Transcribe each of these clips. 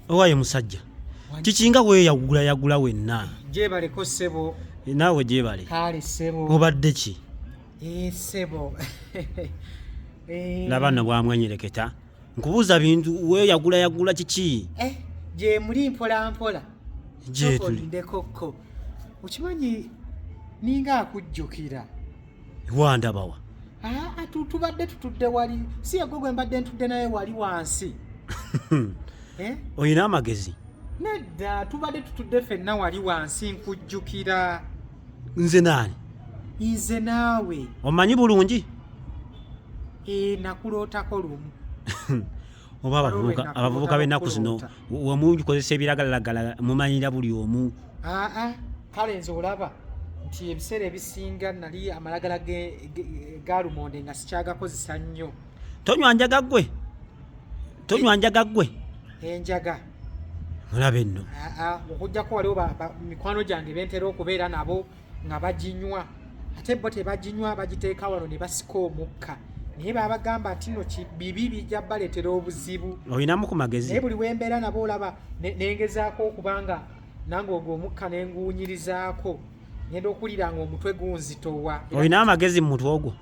owaye musajja kikinga weyagula yagula wenna gyebaleko sebo eh, naawe gyebale kale sebo obadde ki eh, sebo laba no bwamwenyereketa nkubuuza bintu weyagula yagula kiki eh, gyemuli mpolampola gyetuli ndekokko okimanyi ninga akujjukira wandabawa aa tubadde tutudde wali si yegwe gwe mbadde ntudde naye wali wansi eh? olina amagezi nedda tubadde tutudde fenna wali wansi nkujjukira nze naani nze naawe omanyi bulungi ee eh, nakulootako lumu oba abavubuka b'ennaku zino wamungi kozesa ebiragalalagala mumanyira buli omu aa kale nze olaba nti ebiseera ebisinga nali amalagala galumonde nga sikyagakozesa nnyo tonywa njaga gwe tonywa njaga gwe enjaga mulabe nno okujjako waliwo mikwano gyange bentera okubeera nabo nga baginywa ate bo tebaginywa bagiteeka wano ne basika omukka naye babagamba nti no bibi bijja baleetera obuzibu olinamu ku magezi naye buli wembeera nabo olaba nengezaako okubanga nange ogwo omukka nenguwunyirizaako ngenda okuwulira nga omutwe gunzitowa olina amagezi mu mutwe ogwo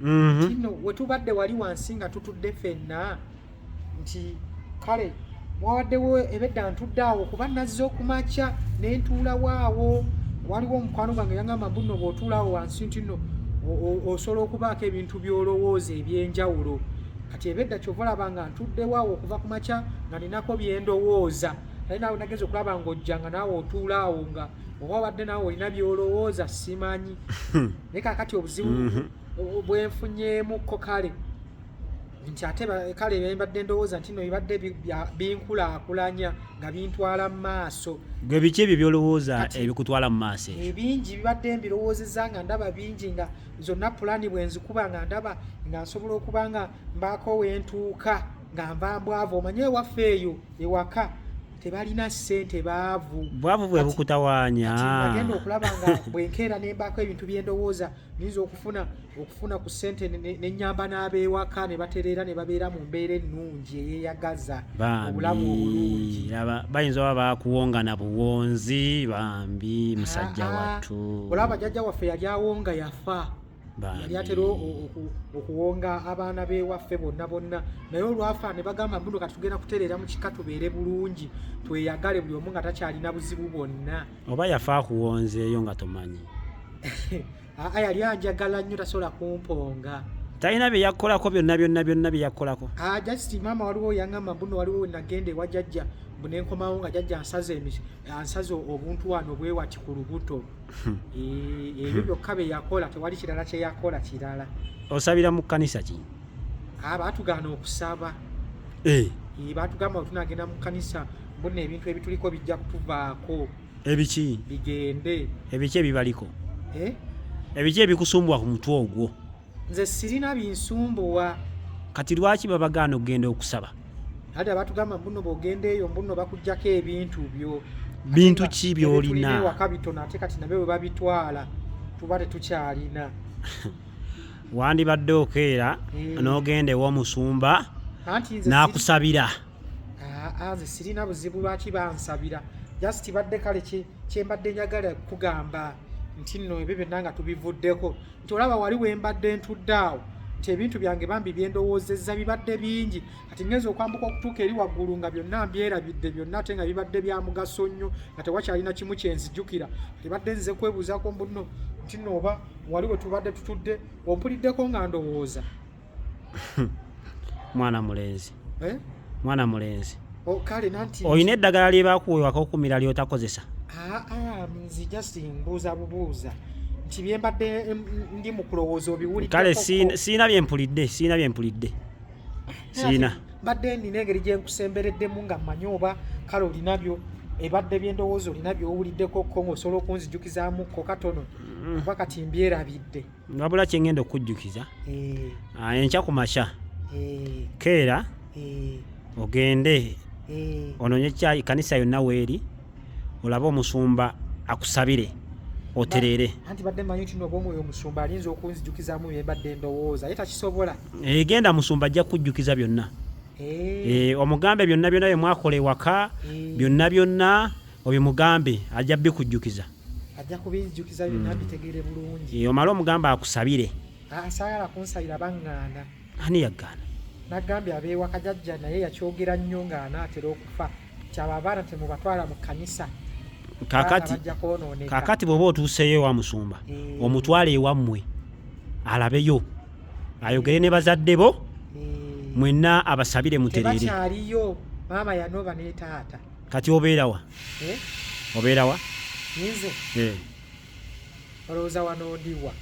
mm-hmm. kino wetubadde wali wansi nga tutudde fenna nti kale wawaddewo ebedda ntudde awo kuba nazze okumakya nentuulawaawo waliwo omukwano gwange yangamba mbuno bwotuulawo wansi ntino osobola okubaako ebintu byolowooza ebyenjawulo kati ebedda kyova olaba nga ntuddewaawo okuva ku makya nga ninako byendowooza naye nawe nageza okulaba ngaojja nga naawe otuulaawo nga oba wadde naawe olina byolowooza simanyi naye kakati obuzibu mhm. bwenfunyemukko kale nti ate kale bembadde ndowooza nti no bibadde binkulaakulanya nga bintwala mu maaso gwe biki ebyo byolowooza ebikutwala mu maaso ebingi bibadde mbirowoozeza nga ndaba bingi nga zonna pulaani bwenzikuba nga ndaba nga nsobola okuba nga mbaako wentuuka nga nva mbwavu omanye ewaffe eyo ewaka tebalina ssente baavu bwavu bwe bukutawaanya agenda okulaba nga bwenkeera nembaako ebintu byendowooza nyinza okufuna okufuna ku ssente nenyamba n'abeewaka ne batereera ne babeera mu mbeera ennungi eyeyagaza obulamu obulungi bayinza oba bakuwongana buwonzi bambi musajja wattu olaba jajja waffe yali awonga yafa yali atera okuwonga abaana bewaffe bonna bonna naye olwafa ne bagamba mbuno kati tugenda kutereera mu kika tubeere bulungi tweyagale buli omu nga takyalina buzibu bwonna oba yafa akuwonzeeyo nga tomanyi aa yali anjagala nnyo tasobola kumponga talina bye yakukolako byonna byonna byonna bye yakukolako ah, just maama waliwo yangamba mbuno waliwo wenagenda ewa jajja mbu nenkomawo nga jajja ansaze obuntu wano bwewati ku lubuto Hmm. Eh, ebyo byokka bye yakola tewali kirala kye yakola kirala osabira mu kkanisa ki ah, baatugaana okusaba eh. Eh, baatugamba we tunagenda mu kkanisa mbona ebintu ebituliko bijja kutuvaako ebiki bigende ebiki ebibaliko ebiki ebikusumbwa ku mutwe ogwo nze sirina binsumbuwa kati lwaki babagaana okugenda okusaba ate abatugamba mbuno bwogenda eyo mbuno bakujjako ebintu byo bintu ki byolina ewaka bitono ate kati nabe we babitwala tuba tetukyalina wandibadde okeera eh. n'ogenda ew'omusumba n'akusabira nze sirina buzibu lwaki bansabira just badde kale kyembadde njagala kugamba nti nno ebyo byonna nga tubivuddeko nti olaba wali wembadde ntudde awo nti ebintu byange bambi byendowoozezza bibadde bingi kati ngenza okwambuka okutuuka eri waggulu nga byonna mbyerabidde byonna ate nga bibadde bya mugaso nnyo nga tewakyalina kimu kyenzijukira tebadde nze kwebuuzaako mbuno nti nooba wali we tubadde tutudde ompuliddeko nga ndowooza mwana mulenzi eh? mwana mulenzi oh, olina eddagala lyebakuwewako okumira lyotakozesa ah, ah, nzi just mbuuza bubuuza nti byembadde ndi mukulowooza obiwulidde kale siina byempulidde siina byempulidde siina mbadde nina engeri gyenkusembereddemu nga mmanyi oba kale olinabyo ebadde byendowooza olina byowuliddeko ko ngaosobola okunzijukizaamu ko katono mm. kuba kati mbyerabidde wabula kyengenda okukujjukiza eh. ah, enkya ku makya eh. keera eh. ogende ononye kyayi kanisa yonna weeri olabe omusumba akusabire otereere anti badde manyi nti nobwomwoyo omusumba alinza okunzijukizamu byembadde ndowooza ye takisobola egenda musumba ajja kukujjukiza byonna omugambe byonna byonna byemwakola ewaka byonna byonna Oyo mugambe ajja bikujjukiza. Ajja kubijjukiza byonna mm. bitegere bulungi. Eyo mala omugambe akusabire. Asagala ah, kunsabira banganda. Ani yagana? Nagambi abewa kajajja naye yakyogera nnyo nga anaatera okufa. Kyaba abaana temubatwala mu kanisa. Kakati kakati bwoba otuuseyo wa musumba eh. omutwale ewammwe alabeyo ayogere ne bazadde bo eh. mwenna abasabire muterere. Tebakyaliyo maama yanoba ne taata. kati obeera wa eh? obeera wa nze eh. olowooza wano ndiwa